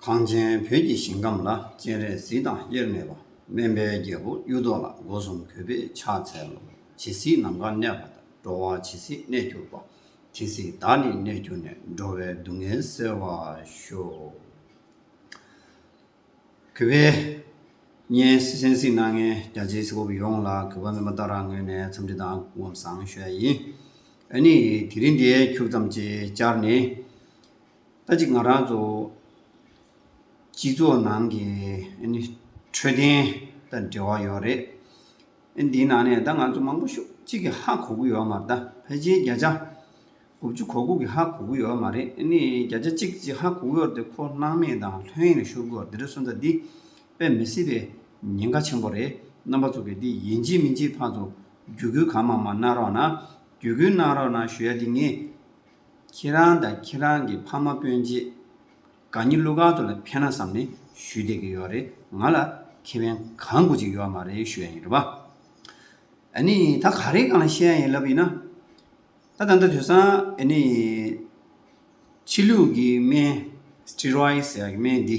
གངས་ཅན་བོད་ཀྱི་ཞིང་ཁམས་ལ་སྤྱན་རས་གཟིགས་དང་དབྱེར་མེད་པ་སྨན་པའི་རྒྱལ་པོ་གཡུ་ཐོག་ལ་སྒོ་གསུམ་གུས་པས་ཕྱག་འཚལ་ལོ། ཇི་སྲིད་ནམ་མཁའ་གནས་པ་དང་འགྲོ་བ་ཇི་སྲིད་གནས་གྱུར་པ། དེ་སྲིད་བདག་ནི་གནས་གྱུར་ནས་འགྲོ་བའི་སྡུག་བསྔལ་སེལ་བར་ཤོག། གུས་པས་སྙན་གསན་གཟིགས་གནང་མཁན་རྒྱ་ཆེའི་སྲིད་སྐོར་བུ་ཡོངས་ལ་གུས་པ་སྨོན་པ་ལྟར་རང་ངོས་ནས་འཚམས་འདྲི་དང་སྐུ་ངོམ་བཟང་ཞུ་ཡ་ཡིན། ཨ་ནི་དེ་རིང་འདིའི་འཁྱུག་མཚམས་ཅིག་ཅར་ནི། ལྟ་ཅི་ང་རང་ཚོ་སྤྱི་ཚོགས་ནང་གི་འཕྲོད་བསྟེན་དང་འབྲེལ་བ་ཡོད་རེད། འདིའི་ནང་ནས་ད་ང་ཚོ་མང་པོ་ཤོག་གཅིག་གི་ཧ་གོ་གི་ཡོད་མ་རེད་ད་ཕལ་ཆེར་བརྒྱ་ཆ་དགུ་བཅུ་གོ་དགུ་གི་ཧ་གོ་གི་ཡོད་མ་རེད་ཨཱ་ནི་བརྒྱ་ཆ་གཅིག་ཅིག་ཧ་གོ་གི་ཡོད་དེ་ཁོ་སྣང་མེད་དང་ལྷོད་གཡེང་ལ་ཤོར་གི་ཡོད་རེད་སོང་ཙང་འདི་དཔེ་མི་སྲིད་པའི་ཉེན་ཁ་ཆེན་པོ་རེད་རྣམ་པ་ཚོ་གིས་འདི་ཡིན་གཅིག་མིན་གཅིག་ཕར་ཚོ་བརྒྱུད་སྐུལ་གང་མང་མང་གནང་རོགས་གནང་བརྒྱུད་སྐུལ་གནང་རོགས་གནང་ཞུ་ཡ་འདི་ངས་ཁྱེད་རང་དང་ཁྱེད་རང་གི་ཕ་མ་སྤུན་མཆེད། དགའ་ཉེ་གླུ་གར་དུ་ལ་ཕན་ན་བསམ་ནས་ཞུས་བསྡད་ཀྱི་ཡོད་རེད་ང་ལ་ཁེ་ཕན་གང་དགོས་ཅིག་ཡོད་མ་རེད་ཞུ་ཡ་ཡིན་རེད་བ། ཨ་ནི་ད་ག་རེ་གང་བཤད་ཡ་ཡིན་ལབ་ཡིན་ན། ད་ད་ལྟ་དུས་སང་ཨ་ནི། ཕྱི་ལུགས་ཀྱི་སྨན། Steroids། ཡ་ཀྱི་སྨན་འདི།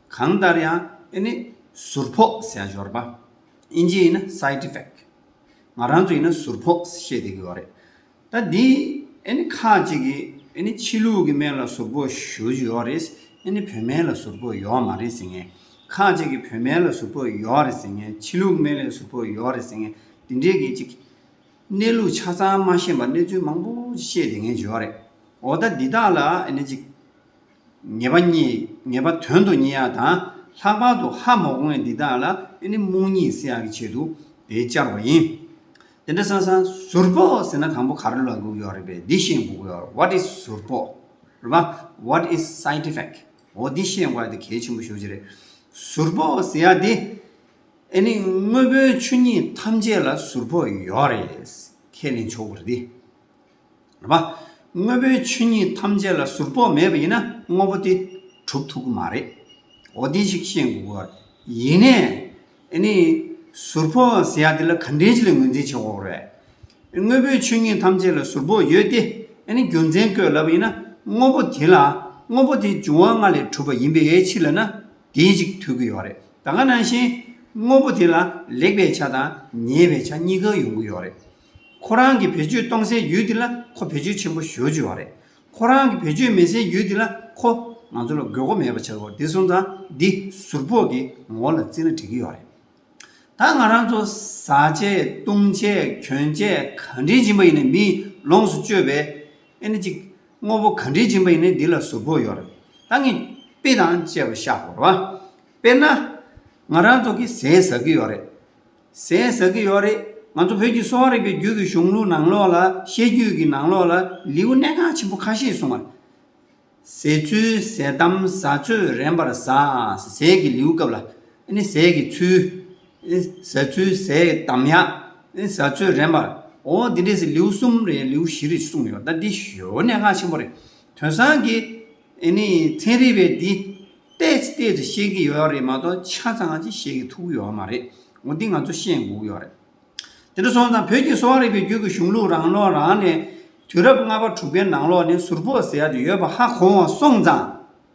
གང་ལྟར་ཡང་ཨེ་ནི་ཟུར་ཕོག་ཟས་ཞོར་པ། ཨིན་ཇི་ཡིན་ན Side Effect། ང་རང་ཚོ་ཡིན་ན་ཟུར་ཕོག་བཤད་དེ་གི་ཡོད་རེད། ད་འདི་ཨེ་ནི་ཁག་ཅིག་གིས་ཨེ་ནི་ཕྱི་ལུགས་ཀྱི་སྨན་ལ་ཟུར་ཕོག་ཞུ་བཞིན་ཡོད་རེད། ཨེ་ནི་བོད་སྨན་ལ་ཟུར་ཕོག་ཡོད་མ་རེད་ཟེར་ངེས། ཁག་ཅིག་གིས་བོད་སྨན་ལ་ཟུར་ཕོག་ཡོད་རེད་ཟེར་ངེས་ཕྱི་ལུགས་སྨན་ལས་ཟུར་ཕོག་ཡོད་རེད་ཟེར་ངེས་འདི་འདྲའི་གི་ཅིག། གནས་ལུགས་ཆ་ཚང་མ་ཤེས་པར་གནས་ཚུལ་མང་པོ་ཅིག་བཤད་དེ་ངེས་ཡོད་རེད། འོ་ད་འདི་དག་ལ་ཨེ་ནི་ཅིག། ངེས་པ་གཉིས་ངེས་པ་དོན་དུ་གཉིས་ཡག་དང་ལྷག་པར་དུ་ཧ་མོག་དངོས་འདི་དག་ལ་ཨེ་ནི་རྨོངས་གཉིད་སེལ་ཡག་གི་ཆེད་དུ་དེ་བཅར་བ་ཡིན། དེ་འདྲ་སང་སང་ཟུར་ཕོག་ཟེར་ན་གང་པོ་ག་རེ་ལ་སྒུག་ཡོད་རེད་པས་འདི་བཤད་སྒུག་ཡོད་རེད What is ཟུར་ཕོག་རེད་པ What is side effect འོ་འདི་བཤད་འགོ་ཡ་དེ་གལ་ཆེན་པོ་ཤོས་ཅིག་རེད། ཟུར་ཕོག་ཟེར་ཡག་འདི་ཨེ་ནི་དངོས་པོའི་ཆོས་ཉིད་ཐམས་ཅད་ལ་ཟུར་ཕོག་ཡོད་རེད་ཁས་ལེན་ཆོག་གི་རེད། བ། དངོས་པོའི་ཆོས་ཉིད་ཐམས་ཅད་ལ་ཟུར་ཕོག་མེད་པ་ཡིན་ན་དངོས་པོ་དེ་གྲུབ་ཐུབ་ཀྱི་མ་རེད། འོ་དེ་ཞིག་ཤེས་དགོས་པ། ཡིན་ནས། ཨེ་ནི། ཟུར་ཕོག་ཟེར་ཡག་དེ་ལ་ག་འདྲའི་ཅི་ལ་ངོས་འཛིན་བྱེད་ཁོག་རེད། དངོས་པོའི་ཆོས་ཉིད་ཐམས་ཅད་ལ་ཟུར་ཕོག་ཡོད་དེ། ཨེ་ནི་རྒྱུ་མཚན་བཀོད་ལབ་པ་ཡིན་ན་དངོས་པོ་དེ་ལ། དངོས་པོ་དེ་འབྱུང་བ་ལྔ་ལས་གྲུབ་པ་ཡིན་པའི་ཕྱིར་ལ་ན། དེ་ཞིག་ཐོས་ཀྱི་ཡོག་རེད། ད་ག་ནང་བཞིན། དངོས་པོ་དེ་ལ་ལེགས་པའི་ཆ་དང་ཉེས་པའི་ཆ་གཉིས་ཀ་ཡོང་གི་ཡོག་རེད། ཁོ་རང་གིས་བེད་སྤྱོད་གཏོང་སའི་ཡུལ་དེ་ལ་ཁོ་བེད་སྤྱོད་ཆེན་པོ་ཞུ་བཅུག་བ་རེད། ཁོ་རང་གིས་བེད་སྤྱོད་མེད་སའི་ཡུལ་དེ་ལ་ཁོ། ང་ཚོ་ལ་དགོས་མཁོ་མེད་པ་བྱེད་དགོས་དེ་གསུངས་ཙང་འདི་ཟུར་ཕོག་གི་ངོ་བོ་ལ་བརྩིས་ན་འགྲིག་གི་ཡོད་རེད། ད་ང་རང་ཚོ་ཟ་ཆས་བཏུང་ཆས་གྱོན་ཆས་ག་འདྲའི་སྦྱིན་པ་ཡིན་ནས་མིས་ལོངས་སུ་སྤྱོད་པའི། ཨེ་ན་ཅིག། དངོས་པོ་ག་འདྲའི་སྦྱིན་པ་ཡིན་ནས་འདི་ལ་ཟུར་ཕོག་ཡོད་རེད། ད་ངས་དཔེ་དང་བཅས་པ་བཞག་གོ། དཔེར་ན། ང་རང་ཚོ་གིས་ཟས་ཟ་གི་ཡོད་རེད། ཟས་ཟ་གི་ཡོད་རེད། ང་ཚོ་བོད་ཀྱི་གསོ་བ་རིག་པའི་རྒྱུད་ཀྱི་གཞུང་ལུགས་ནང་ལོགས་ལ་བཤད་རྒྱུད་ཀྱི་ནང་ལོགས་ལ་ལེའུ་གནད་འགག་ཆེན་པོ་ཁ་ཤས་གསུངས་པ། ཟས་ཚུལ་ཟས་གཏམ་ཟ་ཚོད་རན་པར་ཟ། ཟས་ཀྱི་ལེའུ་སྐབས་ལ། ཟས་ཀྱི་ཚུལ། ཟ་ཚུལ་ཟས་གཏམ་ཡ། ཟ་ཚོད་རན་པར། འོ་འདི་འདྲས་ལེའུ་གསུམ་རེད་ལེའུ་བཞི་རེད་གསུངས་ཡོད་ད་འདི་ཞོའི་གནད་འགག་ཆེན་པོ་རེད། དོན་སང་གི། ཨེ་ནས་ཚན་རིག་པས་འདི་བལྟས་ཚེ་བལྟས་ཚེ་ཤེས་ཀྱི་ཡོད་རེད་མ་གཏོགས་ཆ་ཚང་ཅིག་ཤེས་ཀྱི་ཐུག་གི་ཡོད་མ་རེད་འོ་འདི་ང་ཚོ་ཤེས་འགུག་ཡོད་རེད། དེ་འདྲ་སོང་ཙང་བོད་ཀྱི་གསོ་བ་རིག་པའི་རྒྱུད་ཀྱི་གཞུང་ལུགས་རང་ལོ་རང་ནས་དུས་རབས་ལྔ་པ་དྲུག་པའི་ནང་ལོགས་ནས་ཟུར་ཕོག་ཟེར་ཡག་དེ་ཡོད་པ་ཧ་གོ་འོང་སོང་ཙང་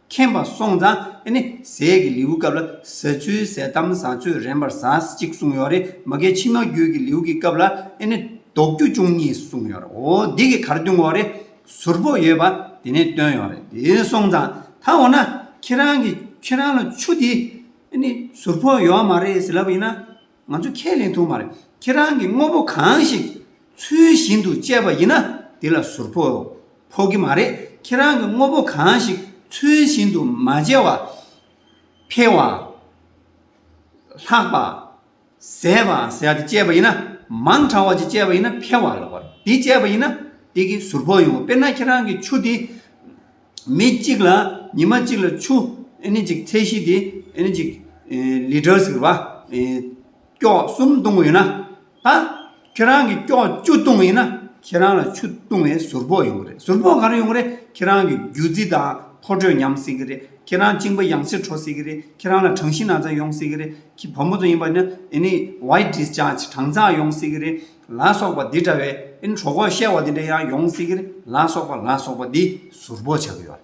མཁྱེན་པ་སོང་ཙང་ཨེ་ནས་ཟས་ཀྱི་ལེའུ་སྐབས་ལ་ཟ་ཚུལ་ཟས་གཏམ་བཟའ་ཚོད་རན་པར་ཟས་ཅིག་གསུངས་ཡོད་རེད་མ་གལ་ཕྱི་མ་རྒྱུད་ཀྱི་ལེའུ་ཀྱི་སྐབས་ལ་ཨེ་ནས་ལྡོག་རྒྱུ་བཅུ་གཉིས་གསུངས་ཡོད་རེད་འོ་འདི་གི་གར་བསྟུན་འོ་རེད། ཟུར་ཕོག་ཡོད་པ་དེ་ནས་བཏོན་ཡོང་རེད་དེ་སོང་ཙང་ད་འོ་ན་ཁྱེད་རང་གི་ཁྱེད་རང་ལ་ཆུ་དེ་ནི་ཟུར་ཕོག་ཡོད་མ་རེད་ཟེར་ལབ་པ་ཡིན་ན་ང་ཚོ་ཁས་ལེན་ཐུབ་མ་རེད་ཁྱེད་རང་གི་དངོས་པོ་གང་ཞིག་ཚུལ་བཞིན་དུ་སྤྱད་པ་ཡིན་ན་དེ་ལ་ཟུར་ཕོག་ཕོག་གི་མ་རེད་ཁྱེད་རང་གི་དངོས་པོ་གང་ཞིག་ཚུལ་བཞིན་དུ་མ་སྤྱད་བ་ཕལ་བ། ལྷག་པ། ཟད་པ་ཟད་དེ་བཅད་པ་ཡིན་ན་མང་དྲགས་བ་ཅིག་བཅད་པ་ཡིན་ན་འཕེལ་བ་ལོག་པར་འདི་བཅད་པ་ཡིན་ན་དེ་གི་ཟུར་ཕོག་ཡོང་བ་དཔེར་ན་ཁྱེད་རང་གི་ཆུ་དེ་མི་གཅིག་ལ་ཉི་མ་གཅིག་ལ་ཆུ་ཨེ་ནི་ཅིག་ཚད་གཞི་དེ་ཨེ་ནི་ཅིག་ལིཏར་ཟེར་བ་ཨེ་སྐྱོགས་གསུམ་བཏུང་བ་ཡོད་ན་ད། ཁྱེད་རང་གིས་སྐྱོགས་བཅུ་བཏུང་བ་ཡིན་ན་ཁྱེད་རང་ལ་ཆུ་བཏུང་བའི་ཟུར་ཕོག་ཡོང་གི་རེད་ཟུར་ཕོག་ག་རེ་ཡོང་གི་རེད་ཁྱེད་རང་གིས་རྒྱུ་རྫི་དང་ཁོ་དྲོད་ཉམས་སྲིད་ཀྱི་རེད་ཁྱེད་རང་གཅིན་པ་ཡང་སེ་འཕྲོ་སྲིད་ཀྱི་རེད་ཁྱེད་རང་ལ་གྲང་གཞི་ན་ཚ་ཡོང་སྲིད་ཀྱི་རེད་ཁྱི་བུ་མོ་ཚོ་ཡིན་པ་ནི་ཨེ་ནི White Discharge གྲང་འཛག་ཡོང་སྲིད་ཀྱི་རེད་ལ་སོགས་པ་འདི་འདྲ་བའི་ཨེ་ནི་གྲོ་གོག་བཤལ་བ་འདི་འདྲ་ཡང་ཡོང་སྲིད་ཀྱི་རེད་ལ་སོགས་པ་ལ་སོགས་པ་འདི་ཟུར་ཕོག་བྱ་གི་ཡོད་རེད་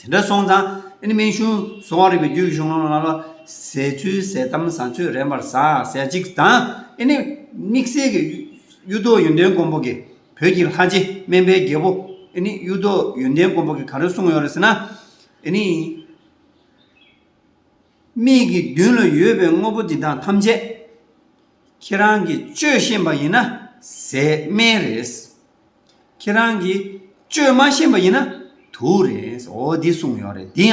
དེ་འདྲ་སོང་ཙང་ཨ་ནི་སྨན་གཞུང་སོ་བ་རིག་པའི་རྒྱུད་ཀྱི་གཞུང་ལུང་ལ་ལ་ཟས་ཚུལ་ཟས་གཏམ་བཟང་སྤྱོད་རན་པར་ཟས་ཅིག་དང་ཨ་ནི་དམིགས་བསལ་གྱི་གཡུ་རྡོ་ཡོན་ཏན་མགོན་པོ་གྱི་བོད་ཀྱི་ལྷ་རྗེ་སྨན་པའི་རྒྱལ་པོ་ཨ་ནི་གཡུ་རྡོ་ཡོན་ཏན་མགོན་པོ་གྱིས་ག་རེ་གསུངས་ཡོད་རེད་ཟེར་ན། ཨ་ནི། མིག་གི་མདུན་ལ་ཡོད་པའི་དངོས་པོ་འདི་དག་ཐམས་ཅད་ཁྱེད་རང་གིས་སྤྱོད་ཤེས་པ་ཡིན་ན་ཟས་སྨན་རེད། ཁྱེད་རང་གིས་བཅོས་མ་ཤེས་པ་ཡིན་ན་དུ་རེད་འོ་འདི་གསུངས་ཡོད་རེད་འདི་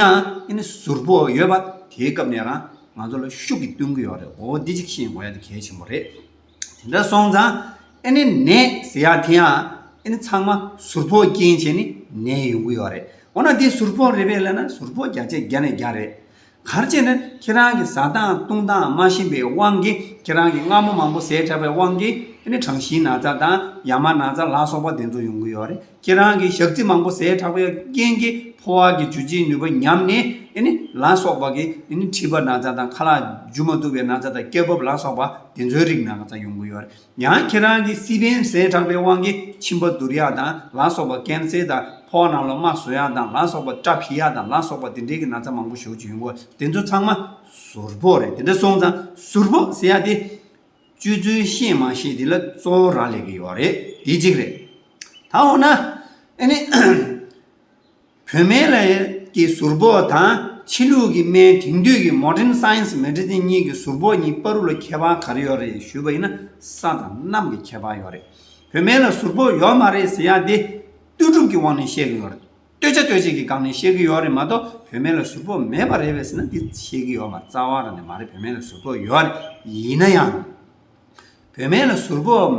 ཡང་ཟུར་པོ་ཡོད་པ་དེའི་སྐབས་ནས་རང་ང་ཚོ་ལ་ཤུགས་ཀྱིས་བསྟུན་གྱི་ཡོད་རེད་འོ་འདི་གཅིག་ཤེས་དགོས་ཡ་འདི་གལ་ཆེན་པོ་རེད་དེ་འདྲ་སོང་ཙང་ཨནི་ནས་ཟེར་ཡག་དེ་ཡང་ཚང་མ་ཟུར་པོ་རྐྱེན་བྱས་ནས་ནས་ཡོང་གི་ཡོད་རེད་འོ་ན་འདི་ཟུར་པོ་རེད་པས་ལན་ན་ཟུར་པོ་བརྒྱ་ཆའི་བརྒྱ་ནས་བརྒྱ་རེད་གར་བྱས་ནས་ཁྱེད་རང་གི་ཟ་སྟངས་བཏུང་སྟངས་སྨྲ་བཞིན་པའི་དབང་གིས་ཁྱེད་རང་གི་རྔ་མོ་མང་པོ་ཟས་ཁྲག་པའི་དབང་གིས་དེ་ནི་གྲང་ཞིང་ན་ཚ་དང་ཡ་མ་ན་ཚ་ལ་སོགས་པ་དེ་ཚོ་ཡོང་གི་ཡོད་རེད་ཁྱེད་རང་གི་ཞག་རྩི་མང་པོ་ཟས་ཁྲག་པའི་རྐྱེན་གྱིས་ཕོ་བ་གི་འཇུ་བྱེད་ནུས་པ་ཉམས་ནས་དེ་ནི་ལ་སོགས་པ་གིས་དེ་ནི་མཁྲིས་པ་ན་ཚ་དང་ཁ་ལག་འཇུ་མ་ཐུབ་པའི་ན་ཚ་དང་སྐྱ་རྦབ་ལ་སོགས་པ་དེ་ཚོའི་རིགས་ན་ཚ་ཡོང་གི་ཡོད་རེད། ཡང་ཁྱེད་རང་གི་སི་པན་ཟས་དྲགས་པའི་དབང་གིས་མཆིན་པ་འདུར་ཡག་དང་ལ་སོགས་པ་ཀན་བསལ་དང་ཕོག་རྣམས་ལ་རྨ་ཟོ་ཡག་དང་ལ་སོགས་པ་སྐྲ་འཕིག་ཡག་དང་ལ་སོགས་པ་དེ་འདྲས་ཀྱི་ན་ཚ་མང་པོ་ཞོག་ཅིག་ཡོང་གོ་དེ་ཚོ་ཚང་མ་ཟུར་ཕོག་རེད་དེ་འདྲ་སོང་ཙང་ཟུར་ཕོག་ཟེར་ཡག་དེ། སྤྱོད་ཚུལ་ཤེས་མ་ཤེས་དེ་ལ་གཙོ་བོ་རག་ལས་ཀྱི་ཡོག་རེད་དེ་གཅིག་རེད། ད་འོ་ན་ཨ་ནི། བོད་སྨན་ལས་ཀྱི་ཟུར་ཕོགས་དང་ཕྱི་ལུགས་ཀྱི་སྨན་དེང་དུས་ཀྱི Modern Science Medicine གཉིས་ཀྱི་ཟུར་ཕོགས་གཉིས་པ་རུ་ལ་ཁྱད་པར་ག་རེ་ཡོད་རེད་ཞུས་པ་ཡིན་ན་ས་དང་གནམ་གྱི་ཁྱད་པར་ཡོད་རེད། བོད་སྨན་ལ་ཟུར་ཕོགས་ཡོད་མ་རེད་ཟེར་ཡག་འདི་ལྟོས་གྲུབ་ཀྱི་དབང་ནས་བཤད་ཀྱི་ཡོད་རེད། ལྟོས་ཆ་ལྟོས་བཅས་ཀྱི་སྒང་ནས་བཤད་ཀྱི་ཡོད་རེད་མ་གཏོགས་བོད་སྨན་ལ་ཟུར་ཕོགས་མེད་པ་རེད་བས་ཟེར་ན་འདི་བཤད་ཀྱི་ཡོད་མ་རྩ་བ་རང་ནས་མ་རེད་བོད་སྨན་ལ་ཟུར་ཕོགས་ཡོད་རེད་ཡིན་ན་ཡང། བོད་སྨན་ལ་ཟུར་ཕོག་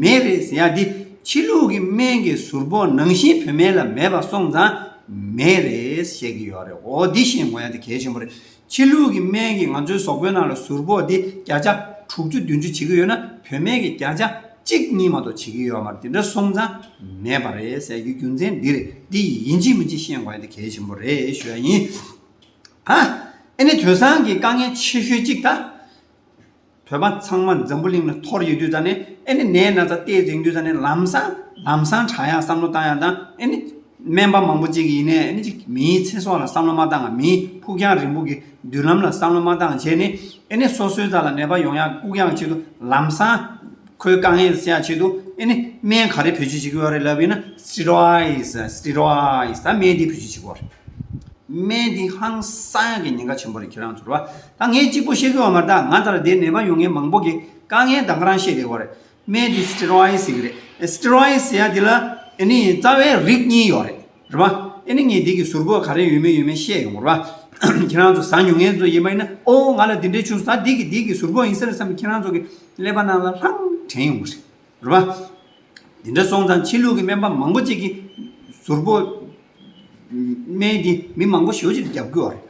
མེད་རེད་ཟེར་ཡག་འདི་ཕྱི་ལུགས་ཀྱི་སྨན་གྱི་ཟུར་ཕོག་ནང་བཞིན་བོད་སྨན་ལ་མེད་པ་སོང་ཙང་མེད་རེད་བཤད་ཀྱི་ཡོད་རེད་འོ་འདི་ཤེས་དགོས་ཡག་འདི་གལ་ཆེན་པོ་རེད་ཕྱི་ལུགས་ཀྱི་སྨན་གྱིས་ང་ཚོའི་ཟོག་པོའི་ནང་ལ་ཟུར་ཕོག་འདི་བརྒྱ་ཆ་དྲུག་ཅུ་བདུན་ཅུ་བྱེད་ཀྱི་ཡོད་ན་བོད་སྨན་གྱིས་བརྒྱ་ཆ་གཅིག་གཉིས་མ་གཏོགས་བྱེད་ཀྱི་ཡོད་མ་རེད་འདི་འདྲ་སོང་ཙང་མེད་པ་རེད་ཟེར་རྒྱུའི་རྒྱུ་མཚན་འདི་རེད་འདི་ཡིན་ཅི་མིན་ཅི་ཤེས་དགོས་ཡག་འདི་གལ་ཆེན་པོ་རེད་ཞུ་ཡག་ཡིན་ཨ་ཨེ་ནི་དོལ་ཚང་གི་དཀའ་ངལ་ཆེ་ཤོས་གཅིག་ད། བོད་པ་ཚང་མ་འཛམ་བུ་གླིང་ལ་ཐོར་ཡོད་དུས་ཙང་ནས་ཨེ་ནི་ནད་ན་ཚ་བལྟས་རྫིང་དུས་ཙང་ནས་ལམ་སང་ལམ་སང་དྲག་ཡང་བསམ་བློ་བཏང་ཡང་བཏང་ཨེ་ནི་སྨན་པ་མང་པོ་གཅིག་ཡིན་ནའི་ཨེ་ནི་གཅིག་མིའི་ཚེ་སྲོག་ལ་བསམ་བློ་མ་བཏང་ང་མིའི་ཕུགས་རྒྱང་རིང་པོ་གི་མདུན་ལམ་ལ་བསམ་བློ་མ་བཏང་ང་བྱས་ནི་ཨེ་ནི་སོ་སོའི་རྩ་ལ་ནད་པ་ཡོང་ཡང་བཀུག་ཡང་ཆེད་དུ་ལམ་སང་ཁོའི་དཀའ་ངལ་སེལ་ཡང་ཆེད་དུ་ཨེ་ནི་སྨན་ག་རེ་བེད་སྤྱོད་བྱེད་དགོས་རེད་ལབ་པས་ན Steroids Steroids ད་སྨན་འདི་བེད་སྤྱོད་བྱེད་དགོས་རེད་སྨན་འདི་ཧང་སང་གི་ཉེན་ཁ་ཆེན་པོ་རེད་ཁྱེད་རང་ཚོར་བ་ད་ངས་གཅིག་པོ་བཤད་དགོས་བ་མ་རྟགས་ང་ལྟར་བདེ་ནད་པ་ཡོང་མཁན་མང་པོ་གི་དཀའ་ངལ་དང་ཁ་རང་ཤེས་རེད་བ་རེད་སྨན་དེ Steroids ཞིག་རེད Steroids ཟེར་ཡ་དེ་ལ་ཨེ་ནི་རྩ་བའི་རིགས་གཉིས་ཡོད་རེད་རེད་བ་ཨེ་ནི་ངས་དེ་གི་ཟུར་བཀོད་ག་རེ་ཡོད་མེད་ཡོད་མེད་བཤད་ཡོང་བ་རེད་བ་ཁྱེད་རང་ཚོ་ཟ་མྱོང་མཁན་ཚོ་ཡིན་པ་ཡིན་ན་ཨོ་ང་ལ་དེ་འདྲའི་ཆུང་ཟ་དེ་གི་དེ་གི་ཟུར་བཀོད་ཡིན་ས་རེད་བསམ་པའི་ཁྱེད་རང་ཚོ་གི་ཀླད་པ་རྣམས་ལ་ལྷང་དྲན་ཡོང་བ་རེད་རེད་བ། དེ་འདྲ་སོང་ཙང་ཕྱི་ལུགས་ཀྱི་སྨན་པ་མང་པོ་གཅིག་གི་ཟུར་བཀོད་སྨན་དེ་མི་མང་པོ་ཞོལ་ཕྱིར་རྒྱབ་དགོས་བ་རེད།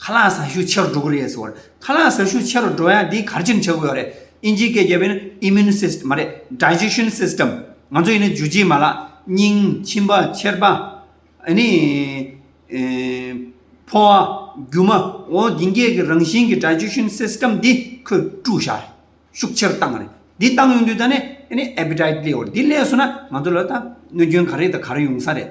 ཁ་ལག་ཟ་ཤུགས་ཆེ་རུ་འགྲོ་གི་རེད་ཟེར་བ་རེད། ཁ་ལག་ཟ་ཤུགས་ཆེ་རུ་འགྲོ་ཡང་དེའི་གར་ཆེན་བྱེད་དགོས་པ་རེད། ཨིན་ཇིའི་སྐད་བརྒྱབ་པས་ན Immune System མ་རེད Digestion System ང་ཚོ་ཡིན་ན་འཇུ་བྱེད་མ་ལག། སྙིང། མཆིན་པ། མཆེར་པ། ཨཱ་ནི། ཕོ་བ། རྒྱུ་མ། འོ་འདི་འགས་ཀྱི་རང་བཞིན་གྱི Digestion System འདི་ཁོས་བཀྲུ་བཞག་རེད། ཤུགས་ཆེ་རུ་བཏང་བ་རེད། འདི་བཏང་ཡོང་དུས་ད་ནི་ཨཱ་ནི Appetite ལེའོ་རེད། འདི་ལས་སོང་ན་ང་ཚོ་ལ་ད་གནོད་སྐྱོན་ག་རེ་དང་ག་རེ་ཡོང་ས་རེད།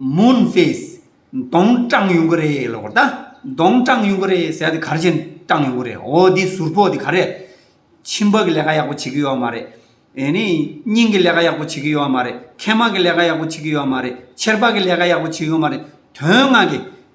མུན་ཧྥེས། གདོང་སྐྲངས་ཡོང་གི་རེད་ལོ། གདོང་སྐྲངས་ཡོང་གི་རེད་ཟེར་དེ་གར་ཕྱིན་སྐྲངས་ཡོང་གི་རེད། འོ་འདི་ཟུར་ཕོག་འདི་ག་རེ། ཁྱིམ་བག་གི་ལས་ཀ་ཡག་པོ་བྱེད་ཀྱི་ཡོད་མ་རེད། ཨེ་ནས་སྙིང་གི་ལས་ཀ་ཡག་པོ་བྱེད་ཀྱི་ཡོད་མ་རེད། མཁལ་མ་གི་ལས་ཀ་ཡག་པོ་བྱེད་ཀྱི་ཡོད་མ་རེད། ཆེར་བག་གི་ལས་ཀ་ཡག་པོ་བྱེད་ཡོད་མ་རེད། དོན་ལྔ་གི།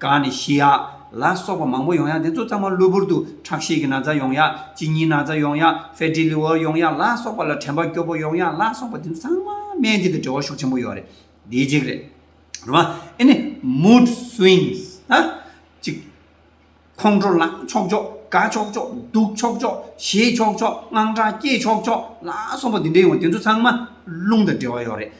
གང་ནི་ཤི་ཡག་ལ་སོགས་པ་མང་པོ་ཡོང་ཡག་དེ་ཚོ་ཚང་མ་གློ་བུར་དུ་ཁྲག་ཤེད་ཀྱི་ན་ཚ་ཡོང་ཡག་གཅིན་སྙིའི་ན་ཚ་ཡོང་ཡག Fatty Liver ཡོང་ཡག་ལ་སོགས་པ་ལ་དྲན་པ་སྐྱོ་པོ་ཡོང་ཡག་ལ་སོགས་པ་དེ་ཚོ་ཚང་མ་སྨན་དེ་དང་འབྲེལ་བ་ཤུགས་ཆེན་པོ་ཡོད་རེད་དེའི་གཅིག་རེད། རེད་མ་ཨེ་ནི Mood Swings ཧ་ཅིག་ཁོང་ཁྲོ་ལངས་ཆོག་ཆོག་དགའ་ཆོག་ཆོག་སྡུག་ཆོག་ཆོག་གཞེས་ཆོག་ཆོག་དངངས་སྐྲག་སྐྱེས་ཆོག་ཆོག་ལ་སོགས་པ་དེ་འདྲས་ཡོང་བ་དེ་ཚོ་ཚང་མ་རླུང་དང་འབྲེལ་བ་ཡོད་རེད་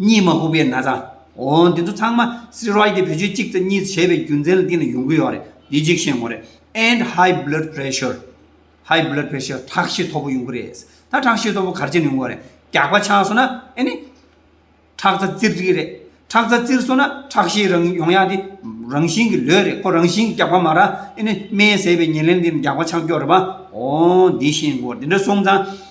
གཉིས་མ་ཧུ་པེ་ན་ཙང། འོ། འདི་ཚོ་ཚང་མ་སི་རོའི་དེ་བེད་སྤྱོད་གཅིག་ཙེ་གཉིས་ཙེ་བྱས་པའི་རྒྱུ་མཚན་ལ་བརྟེན་ནས་ཡོང་གི་ཡོད་རེད། དེ་གཅིག་ཤེས་དགོས་རེད། and high blood pressure high blood pressure ཁྲག་ཤེད་མཐོ་པོ་ཡོང་གི་རེད། ད་ཁྲག་ཤེད་མཐོ་པོ་གར་ཅན་ཡོང་གི་རེད། རྒྱགས་པ་ཆགས་སོང་ན་ཨེ་ནི། ཁྲག་རྩ་བཙིར་གི་རེད། ཁྲག་རྩ་བཙིར་སོང་ན་ཁྲག་ཤེད་རང་ཡོང་ཡག་དེ་རང་བཞིན་གྱི་ལོས་རེད་ཁོ་རང་བཞིན་གྱི་རྒྱགས་པ་མ་ར་ཨེ་ནི་སྨན་ཟས་པའི་ཉེར་ལེན་དེ་ནི་རྒྱགས་པ་ཆགས་རྒྱུ་རེད་པ། འོ། འདི་ཤེས་དགོས་རེད། འདི་འདྲ་སོང་ཙང།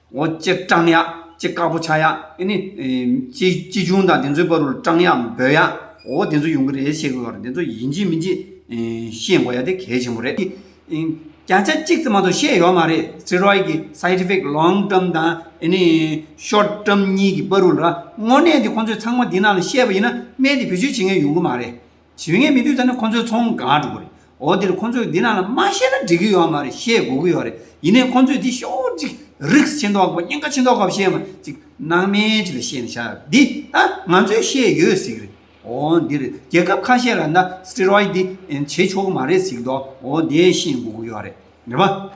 འོ་ཅེ་སྤྲང་ཡག་ཅེ་དཀར་པོ་ཆགས་ཡག་ཨེ་ནི། ཅེ་ཅི་ཆུང་དང་དེ་ཚོའི་བར་རུ་སྤྲང་ཡག་འབོད་ཡག་འོ་དེ་ཚོ་ཡོང་གི་རེད་བཤད་དགོས་པ་རེད་དེ་ཚོ་ཡིན་གྱི་མིན་གྱི་ཤེས་དགོས་ཡག་དེ་གལ་ཆེན་པོ་རེད། བརྒྱ་ཆ་གཅིག་ཙམ་མ་གཏོགས་བཤད་ཡོད་མ་རེད་སྲི་རོའི་གི side effect long term དང་ཨེ་ནི short term གཉིས་ཀྱི་བར་རུ་ལ་དངོས་གནས་དེ་ཁོང་ཚོས་ཚང་མ་འདི་ནང་ལ་བཤད་པ་ཡིན་ན་སྨན་དེ་བེད་སྤྱོད་བྱེད་མཁན་ཡོང་གི་མ་རེད། བྱེད་མཁན་མི་འདུག་ད་ནི་ཁོ་ཚོའི་ཚོང་གང་སྒྲུབ་པ་རེད་འོ་དེར་ཁོ་ཚོས་འདི་རྣམས་ལ་མ་བཤད་ན་འགྲིག་གི་ཡོད་མ་རེད་ཤེས་དགོས་ཀྱི་ཡོད་རེད་ཡིན་ནའི་ཁོ་ཚོས་འདི་ཤོག་ཅིག་རིགས་ཆེ་མདོག་གོ་སྙིང་ག་ཆེ་མདོག་གོ་བཤད་མ་ཅིག་སྣང་མེད་ཅིག་ལ་བཤད་ན་ཤ་འདི་ད་ང་ཚོས་ཤེས་ཡོད་ཟིག་རེད་འོ་འདིར་རྒྱལ་ཁབ་ཁ་ཤས་ལ་ན Steroid འདི་བྱེད་ཆོག་གི་མ་རེད་ཟིག་མདོག་འོ་དེ་ཤེས་དགོས་ཀྱི་ཡོད་རེད་རེད་པ།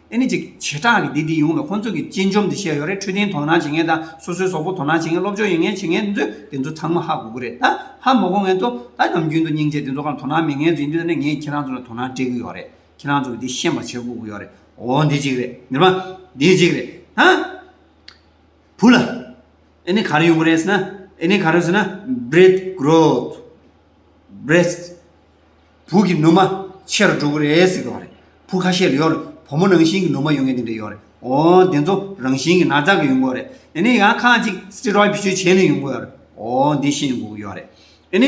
ཨེ་ནི་ཅིག། བྱེ་བྲག་གི་སྡེ་འདི་ཡོངས་ལ་ཁོ་ཚོ་གི་གཅེན་གཅུང་དེ་བཤད་ཡོད་རེད་འཕྲོད་བསྟེན་དོ་སྣང་བྱེད་མཁན་དང་སོ་སོའི་ཟོག་པོ་དོ་སྣང་བྱེད་མཁན་སློབ་སྦྱོང་ཡོད་མཁན་བྱེད་མཁན་ཚོ་དེ་ཚོ་ཚང་མ་ཧ་གོ་གི་རེད་ད། ཧ་མ་གོ་མཁན་ཚོ་ད་ནམ་རྒྱུན་དུ་སྙིང་རྗེ་དེ་ཚོ་གང་དོ་སྣང་མེད་མཁན་ཚོ་ཡིན་དུས་ད་ནས་ངས་ཁྱེད་རང་ཚོ་ལ་དོ་སྣང་སྤྲད་གི་ཡོད་རེད་ཁྱེད་རང་ཚོ་གི་དེ་ཤེས་པ་བྱེད་དགོ་གི་ཡོད་རེད་འོ་འདི་གཅིག་རེད་ཉི་མ། འདི་གཅིག་རེད་ད། བུ་ལ། ཨེ་ནི་ག་རེ་ཡོང་གི་རེད་ཟེར་ན་ཨེ་ནི་ག་རེ་ཟེར་ན། Breath Growth། breast བུ་གི་ནུ་མ་ཆེ་རུ་འགྲོ་གི་རེད་ཟེར་གི་ཡོད་རེད་བུ་ཁ་ཤས་ལ་ཡོད་རེད་བུ་མོ་རང་བཞིན་གྱི་ནུ་མ་ཡོང་གི་འདི་འདྲ་ཡོད་རེད་འོ་དེ་ཚོ་རང་བཞིན་གྱི་ན་ཚ་གི་ཡོང་གི་ཡོད་རེད་དེ་ནས་ཡང་ཁ་ཅིག steroid བེད་སྤྱོད་བྱས་ནས་ཡོང་གི་ཡོད་རེད་འོ་འདི་ཤེས་ཡོང་གི་ཡོད་རེད་དེ་ནས་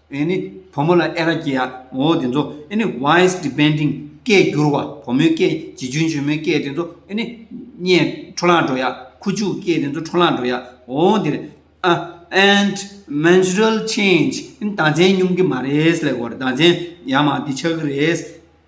ཨེ་ནི་བུ་མོ་ལ་ཨེ་ར་སྐྱེ་ཡ་ངོ་དེ་ཚོ་ཨེ་ནི voice depending སྐད་བསྒྱུར་བ་བུ་མོའི་སྐད་བྱིས་ཆུང་ཆུང་མོའི་སྐད་དེ་ཚོ་ཨེ་ནི་བརྙན་འཕྲོ་ལངས་འགྲོ་ཡ་ཁུ་བྱུག་སྐད་དེ་ཚོ་འཕྲོ་ལངས་འགྲོ་ཡ་ངོ་དེ་རེད་ཨ། and menstrual change ཨེ་ནི་ཟླ་མཚན་སྙོམས་ཀྱི་མ་རེད་ལེགས་པོ་རེད་ཟླ་མཚན་ཡ་མ་འདི་ཆགས་ཀྱི་རེད།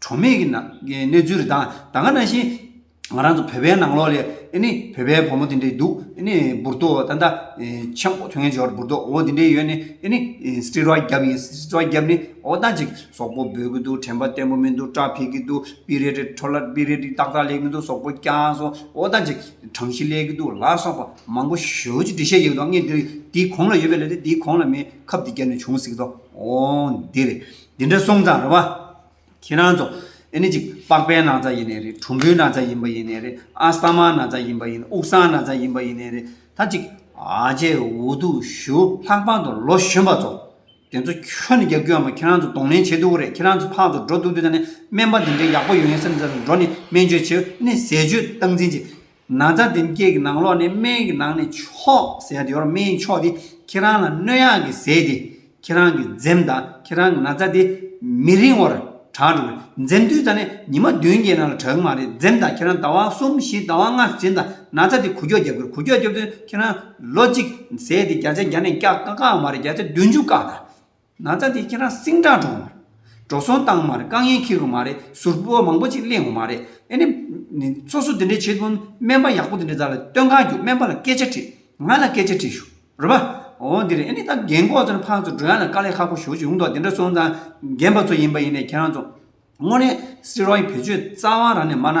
གྲོགས་མེད་ཀྱི་གནས་ཚུལ་རེད་ད་ད་ག་ན་བཞིན་ང་རང་ཚོ་བོད་པའི་ནང་ལོགས་ལས་ཨེ་ནི་བོད་པའི་བུ་མོ་དེ་འདྲས་འདུག་ཨེ་ནི་འབུར་ཏོ་ད་ད་ཆེན་པོ་ཐོན་འབྱོར་འབུར་ཏོ་འོ་དེ་འདྲས་ཡོད་ནི་ཨེ་ནི་སྤྲེལ་རོགས་རྒྱབ་ཡིན་སྤྲེལ་རོགས་རྒྱབ་ནི་འོ་ད་ཅིག་ཟོག་པོ་འབོད་ཀྱི་འདུག་དྲན་པ་བརྟན་པོ་མི་འདུག་སྐྲ་འཕེལ་གྱི་འདུག་སྤི་རེ་རེ་འཕྲོ་ལ་སྤི་རེ་རེ་ཏག་ཏག་ལེགས་མི་འདུག་ཟོག་པོ་རྐྱང་སོང་འོ་ད་ཅིག་གྲང་གཞི་ལེགས་ཀྱི་འདུག་ལ་སོགས་པ་མང་པོ་ཞོལ་གྱི་འབྲི་བཤད་ཡོད་དོ་ངས་འདིར་འདིའི་གོང་ལ་ཡོད་པའི་ལས་དེ་འདིའི་གོང་ལ་མེད་ཁབ་འདི་བརྒྱབ་ནས་བྱུང་ཟིག་དོ་འོང་འདིར། འདི་འདྲ་སོང་ཙང་རེད་བ། ཁྱེད་རང་ཚོ། ཨེ་ནི་ཅིག་པགས་པའི་ན་ཚ་ཡིན་ནའི་རེད་གྲུམ་བུའི་ན་ཚ་ཡིན་པ་ཡིན་ནའི་རེད་ཨ་ས་མ་ན་ཚ་ཡིན་པ་ཡིན་དབུགས་སངས་ན་ཚ་ཡིན་པ་ཡིན་ནའི་རེད་ད་ཅིག་ཨ་ཅེ་འུ་ཐུག་ཞུ་ལྷག་པང་དུ་ལོ་གཞོན་པ་ཚོ། དེ་ཚོ་ཁྱོད་ནི་རྒྱག་རྒྱུ་ཡང་མེད་ཁྱེད་རང་ཚོ་གདོང་ལེན་བྱེད་སྡུག་རེད་ཁྱེད་རང་ཚོ་ཕག་ཚོ་འགྲོ་སྡུག་དེ་ད་ནི་སྨན་པ་འདི་འདྲའི་ཡག་པོ་ཡོད་ངེས་སེམས་ཚོར་འགྲོ་ནི་སྨན་བཅོས་བྱེད་ཨེ་ནི་ཟས་བཅོས་སྟངས་འཛིན་བྱེད། ན་བཟའ་ཟླའི་སྐད་ཀྱི་ནང་ལོགས་ནས་སྨན་གྱི་ནང་ནས་མཆོག་ཟེར་དེ་བར་སྨན་གྱི་མཆོག་དེ་ཁྱེད་རང་ལ་སྣོད་ཡག་གི་ཟས་དེ་ཁྱེད་རང་གི་འཛེམ་དང་ཁྱེད་རང་གི་ན་བཟའ་དེ་མི་རིང་བར་དྲག་འགྲོ་གི་འཛེམ་དུས་ད་ནས་ཉི་མ་བདུན་བརྒྱད་ནང་ལ་དྲག་གི་མ་རེད་འཛེམ་དང་ཁྱེད་རང་ཟླ་བ་གསུམ་བཞི་ཟླ་བ་ལྔ་ཟིན་དང་ན་བཟའ་དེ་གུ་ཀྱོག་རྒྱབ་གི་གུ་ཀྱོག་རྒྱབ་དུས་ཁྱེད་རང་ལོ་གཅིག་ཟས་དེ་བརྒྱ་ཆ་བརྒྱ་ནས་བརྒྱ་དཀའ་དཀའ་བ་མ་རེད་བརྒྱ་ཆ་བདུན་ཅུ་བཀག་དང། ན་ཚ་དེ་ཁྱེད་རང་སེང་དྲག་འགྲོ། འགྲོ་སོང་བཏང་མ་རེད་དཀའ་ངལ་ཁེལ་དགོས་མ་རེད་ཟུར་བོ་མང་པོ་ཅིག་གླེང་དགོས་མ་རེད་ཨེ་ནི། སོ་སོ་དེ་འདྲས་བྱེད་དགོས་སྨན་པ་ཡག་པོ་དེ་འདྲས་ཟ་ལ་སྟོན་ཁ་རྒྱུག་སྨན་པ་ལ་སྐད་ཆ་དྲིས། ང་ལ་སྐད་ཆ་དྲིས་ཞུ། རོལ་པ། འོ་འདི་རེད་ཨེ་ནི་ད་རྒན་གོག་ཚོ་ནི་ཕག་ཚོ་འགྲོ་ཡ་ལ་དཀའ་ལས་ཁག་པོ་ཞུ་ཡོང་དོགས་དེ་འདྲས་སོང་ཙང་རྒན་པ་ཚོ་ཡིན་པ་ཡིན་ནས་ཁྱེད་རང་ཚོ། དངོས་གནས། སེ་རོ་ཡི་བེད་སྤྱོད་རྩ་བ་རང་ནས་སྨྲ་ན།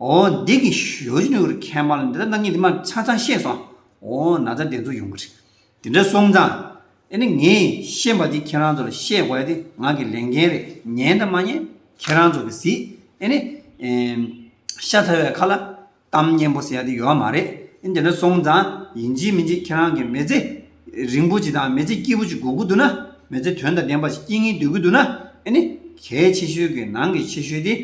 འོ་འདི་གི་ཞོ་ཅི་ནུས་ཀྱི་ཁལ་དམར་ལ་འདི་ལྟར་གནང་ཉིན་དེ་མ་ཚང་ཚང་ཤེས་སོང་འོ་ན་ཚ་དེ་ཚོ་ཡོང་གི་རེད་དེ་འདྲ་སོང་ཙང་ཨེ་ནི་ངས་ཤེས་པ་དེ་ཁྱེད་རང་ཚོ་ལ་བཤད་དགོས་ཡ་དེ་ང་གི་ལས་འགན་རེད་ཉན་དང་མ་ཉན་ཁྱེད་རང་ཚོ་གི་ཟིག་ཨེ་ནི། ཤ་ཚ་བའི་ཁ་ལ་གཏམ་སྙན་པོ་ཟེར་ཡ་དེ་ཡོད་མ་རེད་ཨེ་དེ་འདྲ་སོང་ཙང་ཡིན་གྱི་མིན་གྱི་ཁྱེད་རང་གི་མི་ཚེ་རིང་པོ་ཅིག་དང་མི་ཚེ་སྐྱིད་པོ་ཅིག་དགོས་ཀྱི་འདུག་ན་མི་ཚེ་དོན་དང་ལྡན་པ་ཞིག་སྐྱིད་ངེས་སྡོད་ཀྱི་འདུག་ན་ཨེ་ནི་གལ་ཆེ་ཤོས་ཀྱི་ནང་གི་ཆེ་ཤོས་དེ།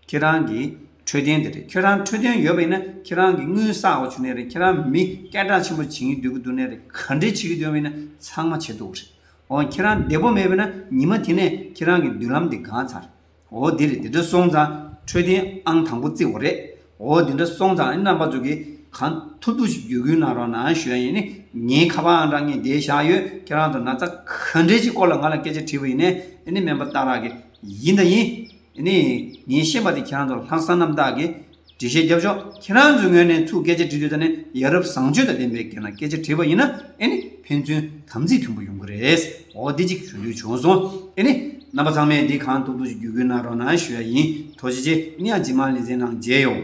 ཁྱེད་རང་གི་འཕྲོད་བསྟེན་དེ་རེད་ཁྱེད་རང་འཕྲོད་བསྟེན་ཡོད་པ་ཡིན་ན་ཁྱེད་རང་གི་དངུལ་བསགས་འོག་བྱུང་ནས་རེད་ཁྱེད་རང་མི་སྐད་གྲགས་ཆེན་པོ་བྱེད་ཀྱིན་སྡོད་ཀྱི་འདུག་ནས་རེད་ག་འདྲས་བྱེད་ཀྱི་སྡོད་པ་ཡིན་ན་ཚང་མ་བྱེད་འདུག་རེད་འོ་ཁྱེད་རང་བདེ་པོ་མེད་པས་ན་ཉི་མ་དེ་ནས་ཁྱེད་རང་གི་མདུན་ལམ་དེ་འགང་ཚར་འོ་དེ་རེད་དེ་འདྲ་སོང་ཙང་འཕྲོད་བསྟེན་ཨང་དང་པོ་བརྩི་འོ་རེད་འོ་དེ་འདྲ་སོང་ཙང་རྣམ་པ་ཚོ་གིས་གང་ཐུབ་ཐུབ་ཞིག་བརྒྱུད་སྐུལ་གནང་རོགས་གནང་ཞུ་ཡ་ཡིན་ནི་ངའི་ཁ་པའང་འདྲ་ངས་བསྡད་བཞག་ཡོད་ཁྱེད་རང་ཚོ་ན་ཚ་ག་འདྲས་ཀྱི་སྐོར་ལ་ང་ལ་སྐད་ཆ་དྲིས་པ་ཡིན་ནི་ཨ་ནི་སྨན་པ་སྟག་རག་གིས་ཡིན་ད་ཡིན། ནི། ངས་ཤེས་པ་དེ་ཁྱེད་རང་ཚོར་ལྷག་བསམ་རྣམ་དག་གིས་འབྲི་བཤད་རྒྱབ་ཆོག་ཁྱེད་རང་ཚོའི་ངོས་ནས་ཐུགས་སྐད་ཆ་འདྲི་དུས་ད་ནི་ཡ་རབས་བཟང་སྤྱོད་དང་ལྡན་པའི་སྒེར་ནང་སྐད་ཆ་དྲིས་པ་ཡིན་ན་ཨེ་ནི་ཕན་ཚུན་དམ་ཚིག་མཐུན་པོ་ཡོང་གི་རེད་འོ་འདི་གཅིག་ཞུ་འདོད་བྱུང་སོང་ཨེ་ནི། རྣམ་པ་ཚང་མས་འདི་གང་ཐུབ་ཐུབ་ཀྱིས་བརྒྱུད་སྐུལ་གནང་རོགས་གནང་ཞུ་ཡ་ཡིན་དོ་ཅི་ཅི་ནི་ཡང་ཇི་མ་ལི་ཙེ་ནང་མཇལ་ཡོང།